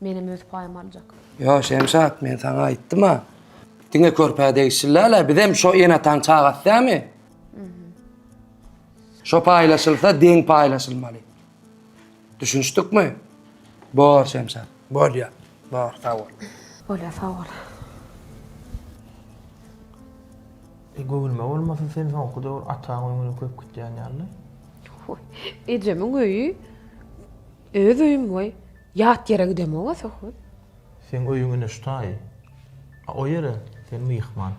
Menem öz paýymy aljak. Ýo, Şemşat, men saňa aýtdym-a. Diňe körpä degişliläl-ä, bizem şo ene-ataň çagasy dämi? Şo paýlaşylsa, deň paýlaşylmaly. Düşünişdikmi? Bor, Şemşat, bolýa. Bor, sag bol. Bolýa, sag bol. E, göwünme bolmasa, sen soňky döwür ataň öýüňe köp gitýän ýaly-da? Hoi, ejemiň öýi. Öz öýüm goý, ýat ýere gidemog-a Söhbet. Seň öýüň ine şu taýy. A o ýere sen myhman.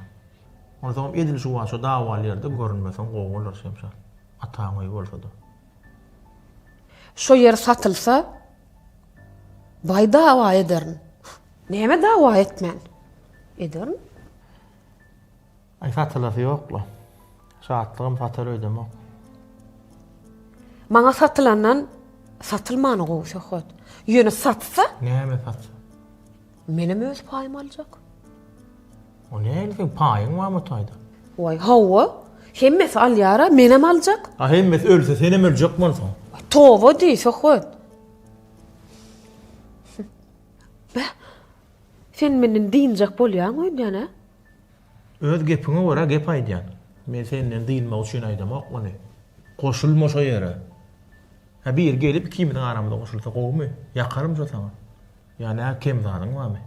Onsoňam edil juwaça dawaly ýerde görünmeseň gowy bolar, Şemşat. Ataň öýi bolsa-da. Şo ýer satylsa, baý dawa ederin. Näme dawa etmen? Ederin. Aý satylasy ýokla. Şatlygym satar öýdemok. Maňa satylandan satylmany gowy söhbet. Ýöne satsa? Näme satsa? Menem öz paýymy aljak. O näme seň paýyň barmy taýda? Waý, hawa. Hemmesi alýar-a, menem aljak. A hemmesi ölse, senem öljek bolsaň. Toba diý, söhbet. Beh, sen menden dynjak bolýaň öýdýän-ä? Öz gepiňe görä gep aýdýan. Men senden dynmak üçin aýdamok muny. Goşulma şo ýere. Hä biri gelip ikimiziň aramyza goşulsa gowumy? Ýakarym şo saňa. Ýa nä kem zadyň barmy?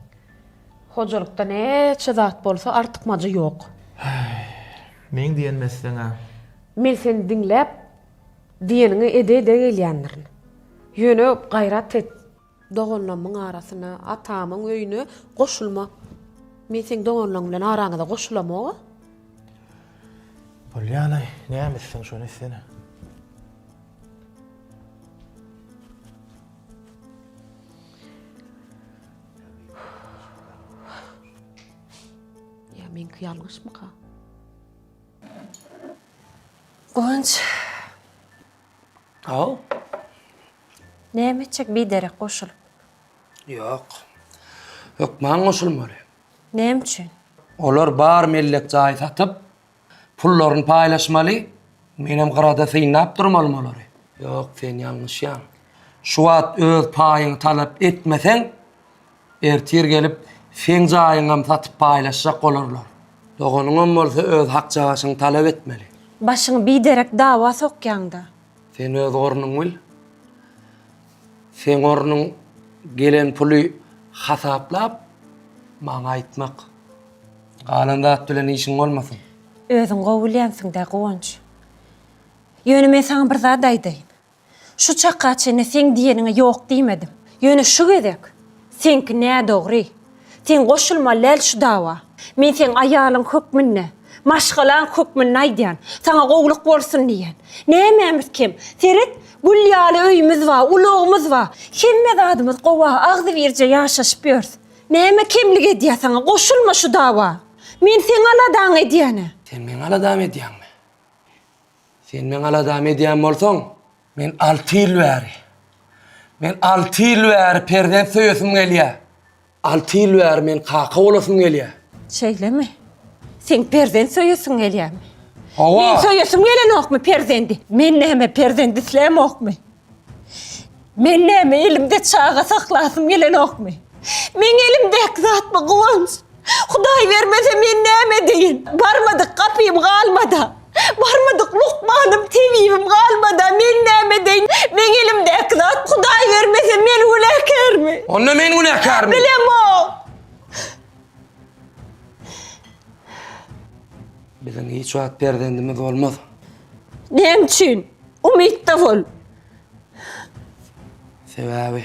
Hojalykda näçe zat bolsa artykmajy ýok. Häý. Meň diýenimi etseň-ä. Men seni diňläp, diýeniňi ede-ede gelýändirin. Ýöne gaýrat et, Doganlamyň arasyna, atamyň öýüne goşulma. Men seň doganlaň bilen araňyza goşulamog-a. Bolýanaý, näme etseň şony etsene. Ýa meňki ýalňyşmyka? Guwanç. Haw. Näme etjek biderek goşulyp? Ýok. Hökman goşulmaly. Näme üçin? Olar bar mellek jaý satyp, pullaryny paýlaşmaly, menem gyrada synlap durmalym olary. Ýok, sen ýalňyşýaň. Şu wagt öz paýyňy talap etmeseň, ertir gelip seň jaýyňam satyp paýlaşjak bolarlar. Doganyňam bolsa öz hakjagaşyňy talap etmeli. Başyňy biderek dawa sokýaň-da. Sen öz ornuň bil. Seň ornuň gelen puly hasaplap maňa aýtmak. Galan zat bilen işiň bolmasyn. Özüň gowy bilýänsiň-dä, Guwanç. Ýöne men saňa bir zat aýdaýyn. Şu çaka çenli seň diýeniňe ýok diýmedim. Ýöne şu gezek. Seňki nädogry. Sen goşulmaly däl şu dawa. Men seň aýalyň hökmünde, maşgalaň hökmünde aýdýan. Saňa gowulyk bolsun diýýän. Nämämiz kem? Seret, gül ýaly öýümiz bar, ulagymyz bar. Hemme zadymyz gowa, agzybirje ýaşaşyp ýörüs. Näme kemlik edýär saňa? Goşulma şu dawa. Men seň aladaňy edýän-ä. Sen meň aladamy edýäňmi? Sen meň aladamy edýän bolsaň, Men alty ýyl bäri, men alty ýyl bäri perzent söýesim gelýär. Alty ýyl bäri men kaka bolasym gelýär. Şeýlemi? Seň perzent söýesiň gelýärmi? Hawa. Meň söýesim gelenokmy perzendi? Men näme perzent islämokmy? Men näme elimde çaga saklasym gelenokmy? Meň elimdäki zatmy Guwanç? Hudaý bermese men näme edeýin? Barmadyk gapym galmada. Barmadyk lukmanym, tebibim galmada. Men näme edeýin? Meň elimdäki zat, Hudaý bermese men günäkärmi? Onda men günäkärmi? Bilemok. Biziň hiç wagt perzendimiz bolmaz. Näme üçin? Umytda bol. Sebäbi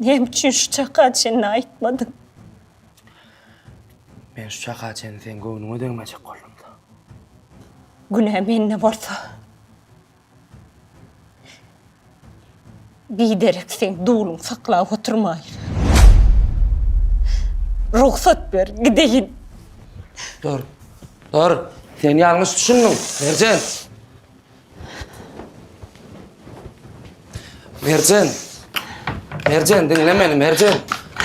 Näme üçin şu çaka çenli aýtmadyň? Men şu çaka çenli seň göwnüňe degmejek boldum-da. Günä mende bolsa. Biderek seň duluň saklap oturmaýyn. Rugsat ber, gideýin. Dur. Dur. Sen ýalňyş düşündiň, Merjen. Merjen. Merjen dinle meni Merjen.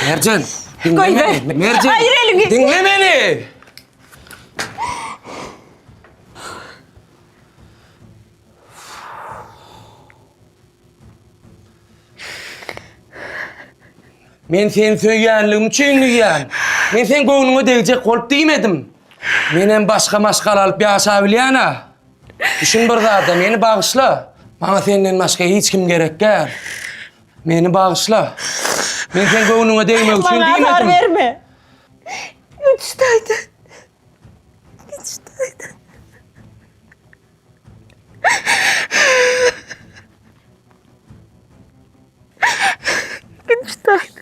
Merjen. Dinle Koy ver. beni. Merjen. Hayır, elini. Dinle beni. Men seni söýýänligim üçin diýýän. Men sen göwnüňe degjek bolup diýmedim. Menem başga maşgala alyp ýaşabilýän-a. Düşün bir zada, meni bagyşla. Maňa senden başga hiç kim gerek däl. Meni bagyşla. Men seň göwnüňe degmek üçin Maňa azar diýmedim. berme. Üç taýda. Üç taýda. Üç taýda.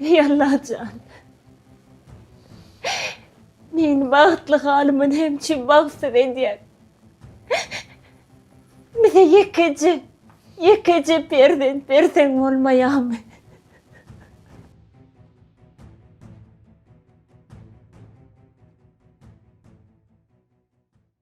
Eý Allah jan! Meni bagtly halyma näme üçin bagtsyz edýäň? Bize ýekeje, ýekeje perzent berseň bolmaýamy?